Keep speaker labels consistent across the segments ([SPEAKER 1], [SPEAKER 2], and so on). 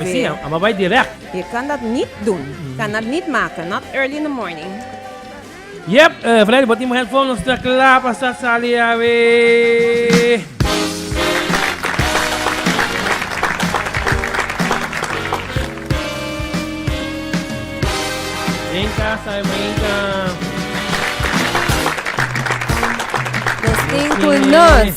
[SPEAKER 1] Mi si, a babai direct. Ye kandat nit dun. Kandat nit maka, not early in the morning. Yep, Freddy bo tin bo headphone, nos ta kla pa start sali awe. Den kasa e meinta. Nos tin ku nos.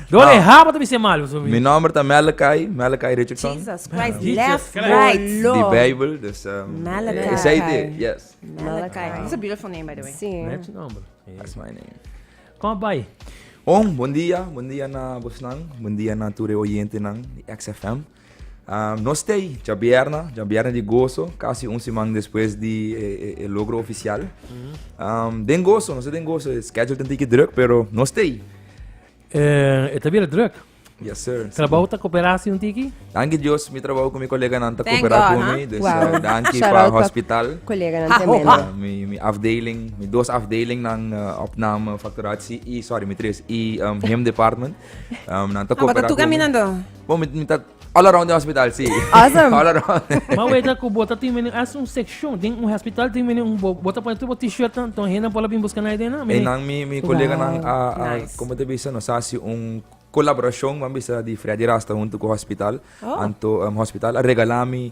[SPEAKER 1] Dor e haba ta bisa e malu. Mi nomber ta Malachi, Malachi Richardson. Jesus Christ uh, left, right, low. Di Bijbel, dus um, Malachi. Is hij die? Yes. Malachi. Malachi. It's a beautiful name, by the way. Sí. That's your number. Yeah. That's my name. Kom bij. Om, bom dia, bom dia na Bosnan, bom dia na ture oyente nan di XFM. Um, no stay, ja bierna, ja bierna di gozo, casi un semana después di eh, eh, el logro oficial. Mm -hmm. um, den gozo, no sé den gozo, schedule tentike druk, pero no stay. Eh, e ta bira druk. Yes, sir. Trabou ta koperasi un tiki? Danki Dios, mi trabou ku mi koleganan ta Thank kopera God, ku ha? mi. Dus Wow. eh, danki Shout pa out pa hospital. Koleganan tremendo. Ah, mi, mi afdeling, mi dos afdelingnan, eh, opname, fakturatie i, sorry, mi tres, i, em, him department. Em, nan ta No, but kopera ku mi. tucaminan do. Bo, mi, mi ta All around den hospital, sí. Awesome. All around. Ma weta ku bo ta tin menen as un sekshon den un hospital tin menen un bo bo ta pone tur bo t-shirt nan ton hennan por la bin buska nai den nan. E nan mi mi koleganan a a Nice. como te bisa nos hasi un colaboracion man bisa di Freddy Rasta huntu ku hospital Oh. anto em hospital a regala mi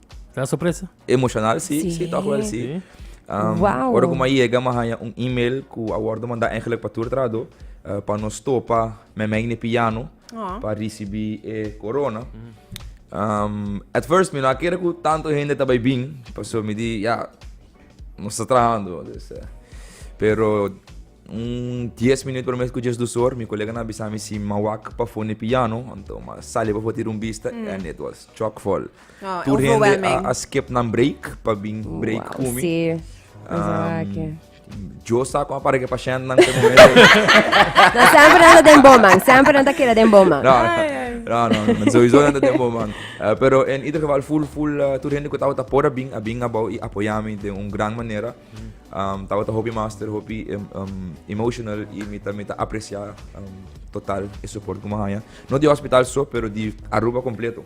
[SPEAKER 1] Ta sorpresa? Emocional si, si toch wel si. Wow. Ora ku ma yega ma haya un email ku a wordo manda eigenlijk pa tur trahador pa nos topa memei ni piano oh. pa risibi e corona. Mm. Um, at first mi no kere ku tanto hende ta bai bin, paso mi di ya nos ta trahando. Dus, uh, pero un 10 minuut per mes ku just dusor, mi kolega na bisa mi si mawak pa fone piano, anto ma sali pa fotir un bista mm. and it was chock full. Tur hende a skip nan break pa bin break ku mi. Yo sa kon para ke pashènt nan te momento. No, semper nan ta den bon man, semper nan ta keda den bon man. No, no, no, souiso nan ta den bon man. Pero en ieder geval full full tur hende ku tabata por a bin, a bin abou i apoyá mi den un gran manera. Tabata hopi master, hopi emotional i mi ta mi ta apresiá total e suport ku mi a haña. No di hospital so, pero di Aruba kompleto.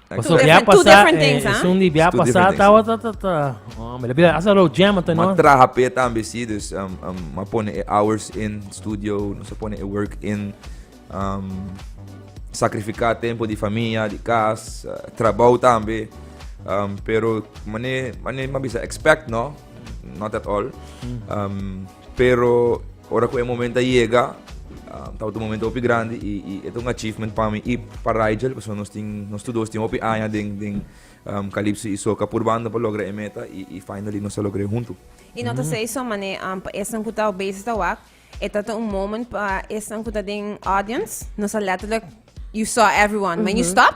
[SPEAKER 1] Paso via pasa, esun di via pasa, tawa ta ta ta. Oh, me lebila, asa lo jam ata no. Ma traha pe tambe si, dus um, um, ma pone e hours in studio, no se pone e work in. Um, sacrifica tempo di familia, di cas, uh, trabao tambe. Um, pero, mane, mane, ma bisa expect, no? Not at all. Um, Pero ora cu e moment a yega, tabata un moment hopi grandi y y e ta un achievement pa mi y pa Rigel, pasobra nos tin, nos tur dos tin hopi aña den, den Calypso y Soca pur banda pa logra e meta y y finally nos a logra e hunto. Y no ta say so mane pa esnan cu ta bezig ta wak, e ta ta un moment pa esnan cu ta den audience, nos a letterlijk, you saw everyone, when you stop,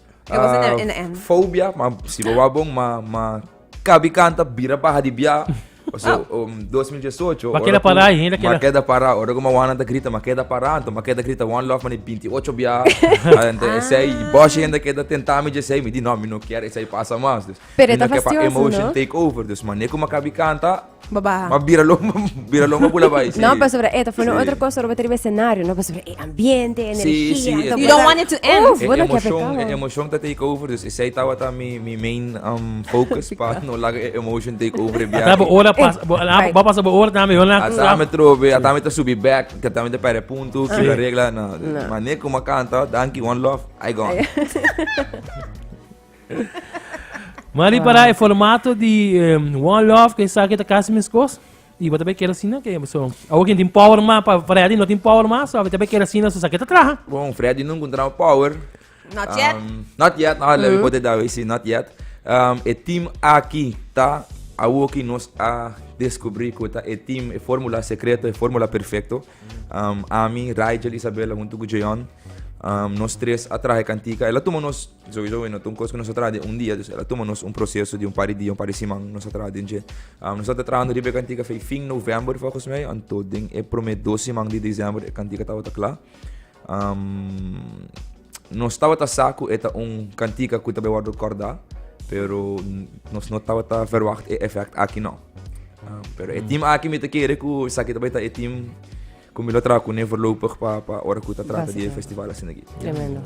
[SPEAKER 1] E was in the, in the end. Fobia, ma si bo wou bon, ma, ma kabi kanta bira baha di bia. So, um, 2018. Ma ora keda ku- pará, henda keda- Ma keda pará. Ora ku ma wana ta grita, ma keda pará. Anto ma keda grita one love, ma di 28 bia. Anto esei, boshi henda keda tentá mi djesei. Mi di, no, mi no kier esei pasa mas. Dus, Pero e mi ta no kier pa fastidioso, emotion no? take over. Dus, manera ku ma kabi kanta, Bo baha. Ma bira lomba, bira lomba bula bai. Sí. No, pasobra e ta fue no otro cosa roba tribe escenario, no pasobra e ambiente, energia. Sí, sí. You don't want it to end. Uf, bueno, que emotion, e emotion ta take over, dus esai tawa ta mi mi main um, focus pa no laga e emotion take over e biahe. Tabo ora pas, bo, right. bo pasa bo ora tambe, hola. Atame trobe, atame ta subi back, que atame ta pare punto, que la regla na. No. Mané como canta, dankie, one love, I gone. Ma di para e formato di em, One Love, que sa que ta casi mescos. Y vos también quieres asina, que so. Ahora que tin power más, pa Freddy no tin power más, so a también quieres asina, so sa que ta traha. Bon, Freddy no encontraba power. Not yet. Um, not yet, no, le pote da we si, not yet. Um, e team aki ta awo ki nos a descubri ku ta e team, e formula secreto, e formula perfecto. Um, ami, Rigel, Isabella, junto ku Jeon, um, nos tres a trahe cantica. Ela tuma nos Sowieso e no ta un kos ku nos a traha den un dia, dus el a tuma nos un proseso di un par di dia, un par di siman nos a traha den dje. Nos tabata trahando riba e kantika fei fin novèmber fòlkos mi, anto den e promé dos siman di desèmber e kantika tabata kla. Nos tabata sa ku e ta un kantika ku ta bay wòrdu kòrdá, pero nos no tabata ferwagt e efèkt aki nò. Pero e tim aki mi ta kere ku esaki ta bay ta e tim. Ku mi lo traha ku ne voorlopig pa pa ora ku ta trata di e festival asin aki. Tremendo.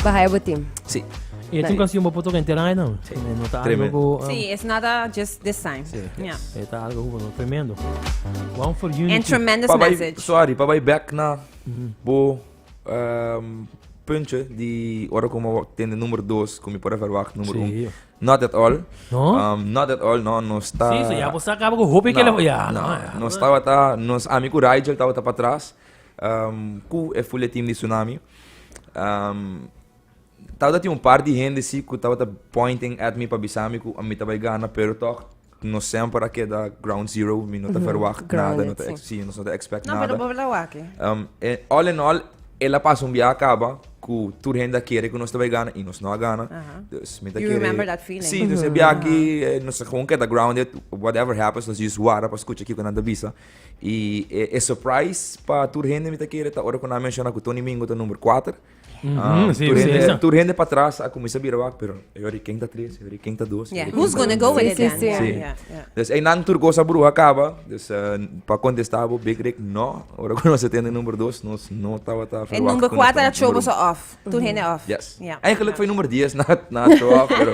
[SPEAKER 1] Bahaya bo team. Sí. E es un canción bo por toca entera aña no. Sí. No ta algo ku um, Sí, es nada just this time. Sí. Ja. e ta algo ku no tremendo. One for unity. And tremendous Pa bai, message. sorry, pa bai back na bo ehm, puntje di ora ku mi wou tende numero dos, ku mi por a verwacht numero Sí, un. jo. Not at all. No? Um, not at all, no. Nos ta... Sí, so ya vos acaba con hopi que le... Ya, no. Nos tabata, nos ami cu Rigel tabata pa tras, um, cu e fuletin di Tsunami. Um, tabata tin un par di hende, sí, cu tabata pointing at mi pa bisa mi cu mi ta bay gana, pero tog, Nos semper a keda ground zero, mi no ta verwagt nada, no ta ex, si, nos no ta expect nada. No, pero bo tabata wak. Um, e, all in all, el a pasa un biaha caba cu tur hende a kere cu nos ta bay gana y nos no a gana. Uh -huh. Dus mi ta you kere... remember that feeling. Si, dus e biaha ki uh -huh. nos gewoon keda grounded, whatever happens, nos just wara pa scucha kico nan ta bisa. Y e, e surprise pa tur hende mi ta kere ta ora cu nan a menciona cu Tony Mingo ta number 4. Ah, sí, tur, sí, hende, sí. tur hende pa tras a comienza bira wak, pero yo hoor ken ta tres, yo hoor ken ta dos. Yeah, who's gonna go with it then? Sí, sí. Yeah, yeah. Dus ei nan tur cosa bruha acaba, dus uh, eh, pa contestar bo Big Rick, no, ora que nos atende number dos, nos no tava ta verwacht. En number 4 era chobo so off, tur hende off. Yes. Yeah. Eigenlijk foi number 10 na, na cho off, pero,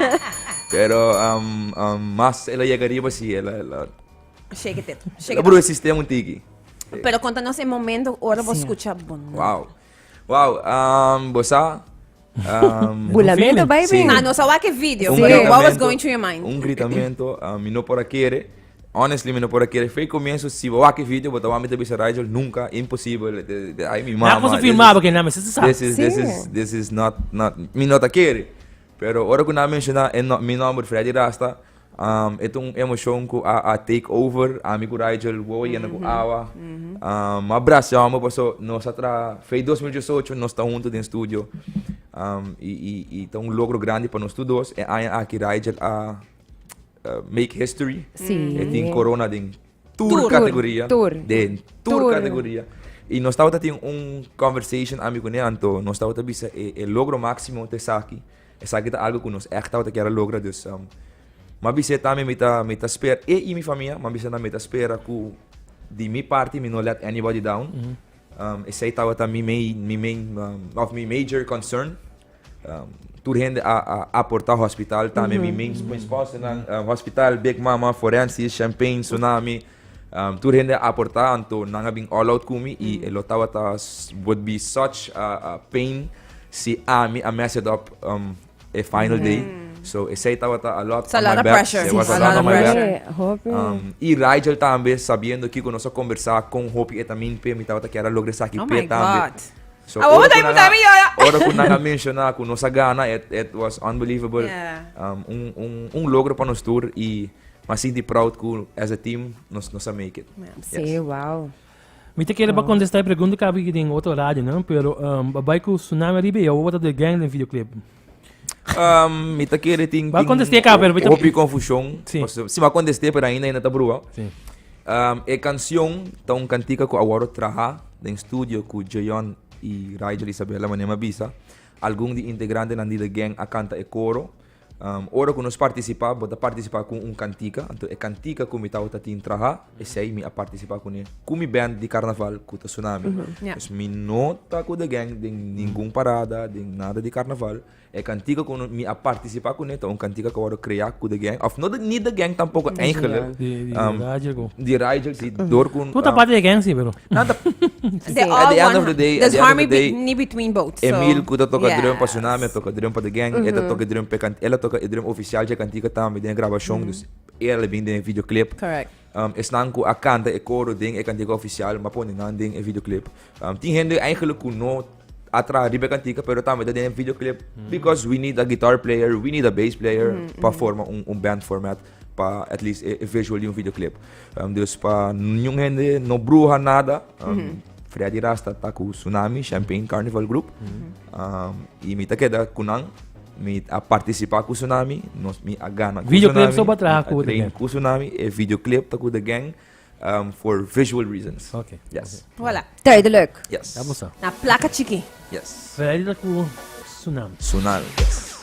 [SPEAKER 1] pero um, um, mas ela llega arriba, sí, ela, ela... Shake it, shake it. Ela bruha sistema un tiki. Pero contanos el momento, ora vos escucha, bueno. Wow. Wow, um, bo sa? Um, Bulamento feeling. baby. Sí. Ah, nos a wak e video, Un pero what was gritamento- going through your mind? Un gritamento, um, mi no por a kere. Honestly, mi no por a kere. Fe comienzo, si bo wak e video, bo ta wami ta bisa Rigel, nunca, imposible. De, de, ay, mi mama. Na kon se this filmaba is- que na me se sa. This is, this Sí. is, this is not, not, mi no ta kere. Pero ora ku na menciona e no, mi nombre Freddy Rasta, E ta un emoshon ku a a take over ami ku Rigel wowo yenda ku awa a brasha homi paso nos a traha fei dos mil dieciocho nos ta huntu den studio i ta un logro grandi pa nos tur dos e aña aki Rigel a make history e tin corona den tur kategoria. Den tur kategoria. I nos tabata tin un conversation ami kuné, anto nos tabata bisa e, e logro máksimo ta esaki. Esaki ta algu ku nos ègt tabata kier a logra. Dus, um, mi a bis'é tambe mi ta, mi ta spera, e i mi famia, mi a bis'é tambe mi ta spera ku di mi parti mi no let anybody down. Um, esei tabata mi main, mi main, um, of mi major concern. Tur hende a aportá hospital, tambe mi ming's, mi sponsornan, hospital, Big Mama, Forensis, Champagne, Tsunami, tur hende a aportá, anto nan a bin all out ku mi i e lo tabata would be such a pain si ami a mess it up e final day. So esei tabata a lot on my back. It's a lot of pressure. It was a lot on my back. Sí, hopi. I Rigel tambe, sabiendo kiko nos a kombersá kon hopi e ta mingpe, mi tabata kier a logra esaki p'e tambe. Oh my God! So ora ku nan a, ora ku nan a menshona ku nos a gana et et was unbelievable. Um un un un logro pa nos tur i mi a sinti proud ku as a team nos nos a make it. Si, wow. Mi ta kere pa kontestá e pregunta kapi den otro radio, no? Pero um bai ku Tsunami ariba i awor bo ta The Gang den videoclip. Um, mi ta kere tin... Ba contesté ka, pero mi ta... Hopi confusion. Sí. Si ma contesté, pero ainda ainda ta brua. Sí. Um, e canción ta un cantica cu awaro traha den studio cu Jayon y Rigel Isabella manema bisa. Algun di integrante nan di The Gang a canta e coro. Um, ora cu nos participa, bo ta participa cu un cantica. Anto e cantica cu mi tawata tin traha. Esei mi a participa cune cu mi band di carnaval cu ta Sunami. Pues mi no ta cu The Gang den ningun parada, den nada di carnaval. E cantica cu mi a participa cune ta un cantica cu a wordo crea cu The Gang, of no ni The Gang tampoco eigenlijk. Di Raijel si door cu. Cu ta parti di The Gang si pero. Nan ta. At the end of the day. There's harmony ni between both. Emil cu ta toca drum pa Sunami a toca drum pa The Gang. E ta toca drum pe can, el a toca e drum oficial dje cantica tambe den e grabacion. Dus Era lo bin den e videoclip. Esnan cu a canta e coro den e cantica oficial m'a pone nan den e videoclip. Tin hende eigenlijk cu no a traha riba e cantica pero tambe ta den e videoclip because we need a guitar player, we need a bass player pa forma un band format pa at least e visual di un videoclip. Dus pa ningun hende no bruha nada Freddy Rasta ta cu Sunami Champagne Carnival Group. y mi ta keda cu nan. Mi a participa cu Sunami, nos, mi a gana cu Sunami. Videoclip so pa traha cu The Gang. cu Sunami, e videoclip ta cu The Gang um, for visual reasons. Okay. Yes. Voilà, duidelijk. Yes. Vamos a. Na placa chiqui. Yes. Veradi ta cu Sunami. Sunami, yes.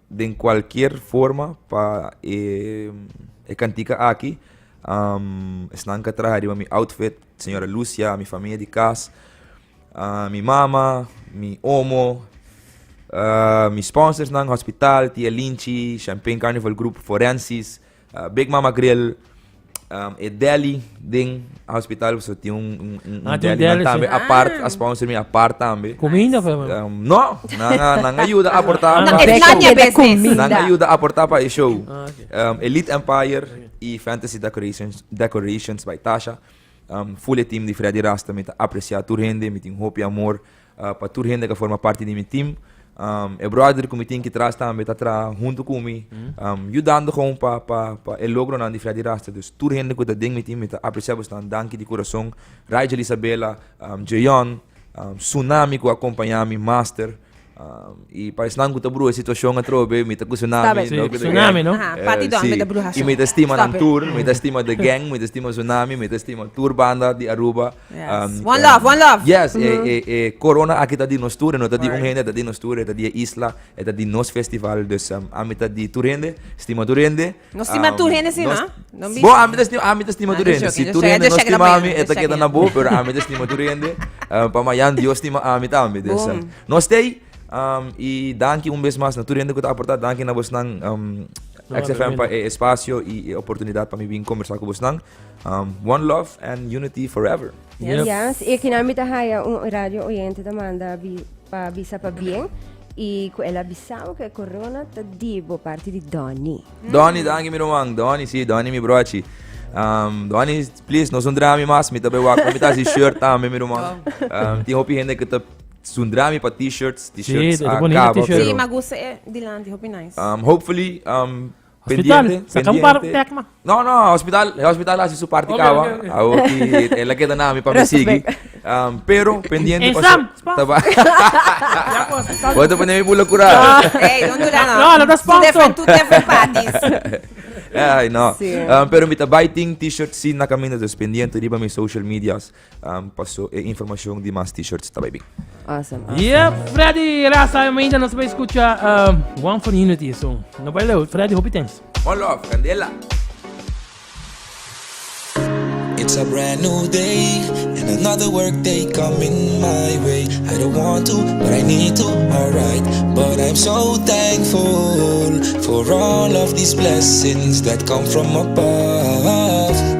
[SPEAKER 1] den cualkier forma pa e cantica aki esnan ka traha riba mi outfit señora Lucia mi famia di cas mi mama mi omo mi sponsorsnan hospital tia Linchi champain carnival group forensis Big Mama Grill, e deli den hospital so tin un un deli nan tambe apart a sponsor mi apart tambe. Kuminda por lo menos. No, nan a nan a yuda aporta pa e show. Nan a yuda aporta pa e show. Elite Empire i Fantasy Decorations Decorations by Tasha. Fuli e team di Freddy Rasta mi ta apresia tur hende mi tin hopi amor. Pa tur hende ku a forma parti di mi tim. E bròder ku mi tin ki tras tambe ta traha huntu ku mi yudando gewoon pa pa pa e logronan di Freddy Rasta. Dus tur hende ku ta den mi tim mi ta apresia bostanan danki di kurason. Rigel Isabela, Jeyon, Sunami ku a kompañá mi, Master, i pa esnan ku ta bruha e situashon atrobe mi ta ku Sunami i mi ta stima nan tur, mi ta stima The Gang, mi ta stima Sunami, mi ta stima tur banda di Aruba. Yes. One love, one love. Yes, e, e, e corona aki ta di nos tur, no ta di un Word. hende, ta di nos tur, e ta di e isla, e ta di nos festival. Dus um, ami ta di tur hende, stima tur hende. No stima Um, tur hende, sí, nos- ma? No be- Bo, ami ta stima, ami ta stima Ah, tur just hende. joking, Si just tur joking. hende Just no checking stima up on ami, you, e ta just keda checking na up. bo, pero ami ta stima tur hende. Uh, pa mayan Dios stima ami tambe. Dus, um, Boom. no stay. Um, y danki un vez mas na tur hende ku ta aporta. Danki na bosnan um, No, XFM pa tremendo. e espacio y e oportunidad pa mi bin conversar ku bosnan. One love and unity forever. Yep. Yes, y aquí mi ta haya un radio oyente ta manda bi, pa bisa pa bien y cu el a bisao que corona ta di bo parte di Donny. Donny, danki mi roman. Donny, sí, Donny mi brochi. Um, Donny, please, no sundra mi mas. Mi ta bewak, mi ta si shirt tambe mi roman. Um, tin hopi hende que ta sundra mi pa t-shirts, t-shirts Sí, de- de bonito acaba. t-shirt. pero, Sí, ma gusta eh, Dylan, die hopi nice. um, hopefully, um, Hospital, Pendiente, saca un par pendiente. tek, man. No, no, hospital, e hospital hasi su parti Oké, kawa. oké, oké. Awo ki e la keda nami pa mi sigi. Um, pero pendiente En Sam, spam. taba. Ya ku hospital. Wa te pone mi bula kura. Hey, don't do that, no. No, dat is Two sponsor. different, two different parties. Ay, no. Sí. Um, pero mi ta bai ting t-shirt sin na caminda, dus pendiente riba mi social medias. Paso e informacion di mas t-shirts ta bay bin. Awesome awesome. Yep Freddy Raza y Maida nos bay escucha uh, One for Unity so no bay leu Freddy hopi thanks. One love Candela. It's a brand new day and another work day coming my way. I don't want to, but I need to, alright. But I'm so thankful for all of these blessings that come from above.